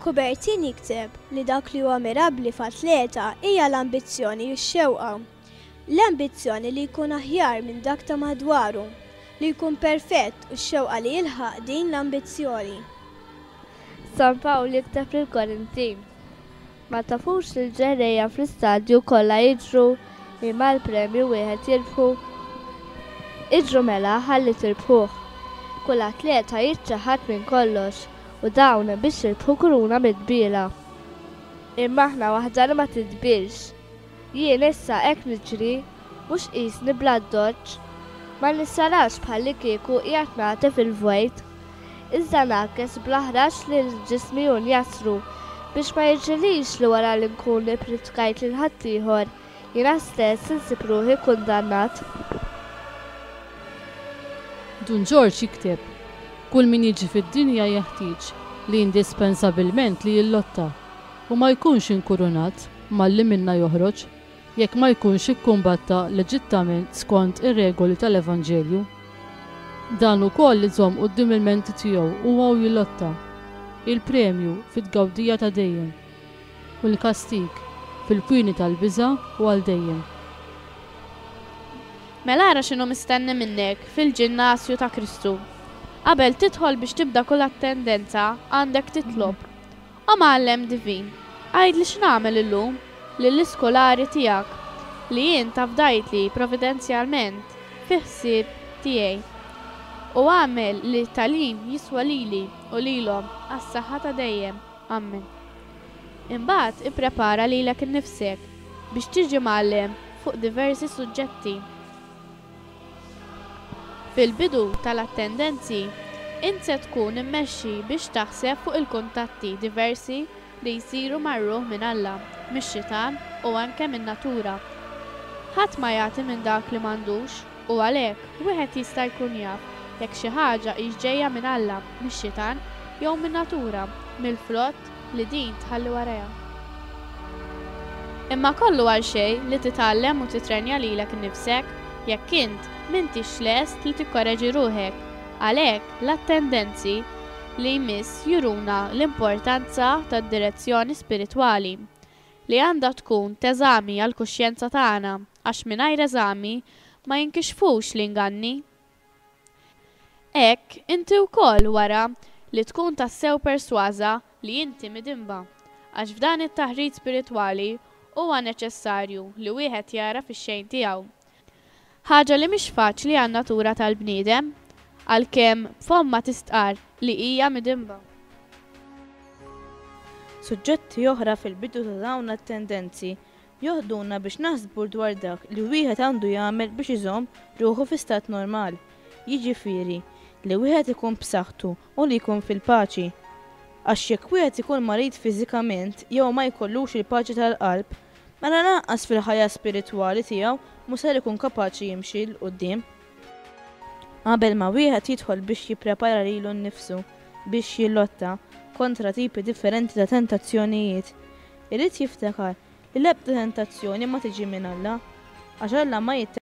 Coubertin jikteb li dak li huwa mirabbli f'atleta hija l-ambizzjoni u x-xewqa. L-ambizzjoni li jkun aħjar minn dak ta' madwaru, li jkun perfett u x-xewqa li jilħaq din l-ambizzjoni. San Pawl jikteb lill-Korinti. Ma tafux li l-ġerrejja fl-istadju kollha jiġru li mal-premju wieħed jirbħu? Iġru mela ħalli tirbħuh. Kull atleta jiċċaħħad minn kollox u dawn biex jirbħu kuruna midbiela. Imma aħna waħda li ma tidbielx. Jien issa hekk niġri, mhux qisni bl-addoċċ, ma nissarax bħallikieku qiegħed nagħtef il-vojt, iżda ngħakkes bl-aħrax lil ġismi u njasru, biex ma jiġrilix li wara li nkun ippritkajt lil ħaddieħor, jiena stess insib ruħi kundannat. Dun Ġorġ jikteb, Kull min jiġi fid-dinja jeħtieġ li indispensabilment li jillotta, u ma jkunx inkurunat malli minnha joħroġ, jekk ma jkunx ikkumbatta leġittament skond ir-regoli tal-Evanġelju. Dan ukoll iżomm quddiem il-menti tiegħu huwa u jilotta, il-premju fit-tgawdija ta' dejjem, u l-kastig fil-kwieni tal-biża' u għal dejjem. Mela ara x'inhu mistenni minnek fil-ġinnasju ta' Kristu. Qabel tidħol biex tibda kull attendenza, għandek titlob. O Mgħallem Divin, għidli x'nagħmel illum lill-iskolari tiegħek li int afdajtli providenzjalment fi ħsieb tiegħi. U agħmel li t-tagħlim jiswa lili u lilhom għas-saħħa ta' dejjem. Ammen. Imbagħad ipprepara lilek innifsek biex tiġi mgħallem fuq diversi suġġetti. Fil-bidu tal-attendenzi, int se tkun immexxi biex taħseb fuq il-kuntatti diversi li jsiru mar-ruħ minn Alla, mix-xitan u anke min-natura. Ħadd ma jagħti minn dak li m'għandux, u għalhekk, wieħed jista' jkun jaf jekk xi ħaġa hix ġejja minn Alla, mix-xitan, jew min-natura, mill-frott, li din tħalli warajha. Imma kollu għal xejn li titgħallem u tittrenja lilek innifsek jekk int m'intix lest li tikkoreġi ruħek. Għalhekk, l-attendenzi li jmiss juruna l-importanza tad-direzzjoni spiritwali, li għandha tkun t'eżami għall-kuxjenza tagħna, għax mingħajr eżami ma jinkixfux l-inganni. Hekk, inti wkoll, wara, li tkun tassew persważa li inti midinba. Għax f'dan it-taħrit spiritwali huwa neċessarju li wieħed jagħraf ix-xejn tiegħu. Ħaġa li mhix faċli għan-natura tal-bniedem, għalkemm b'fommha tistqarr li hija midinba. Suġġetti oħra fil-bidu ta' dawn t-tendenzi Joħduna biex naħsbu dwar dak li wieħed għandu jagħmel biex iżomm ruħu fi stat normal, jiġifieri, li wieħed ikun b'saħħtu u li jkun fil-paċi. Għax jekk wieħed ikun marid fiżikament jew ma jkollux il-paċi tal-qalb, mela lanqas fil-ħajja spiritwali tiegħu mhu ser ikun kapaċi jimxi 'l quddiem. Qabel ma wieħed jidħol biex jipprepara lilu nnifsu biex jillotta kontra tipi differenti ta' tentazzjonijiet, Irid jiftakar li l-ebda tentazzjoni ma tiġi minn Alla, għax Alla ma.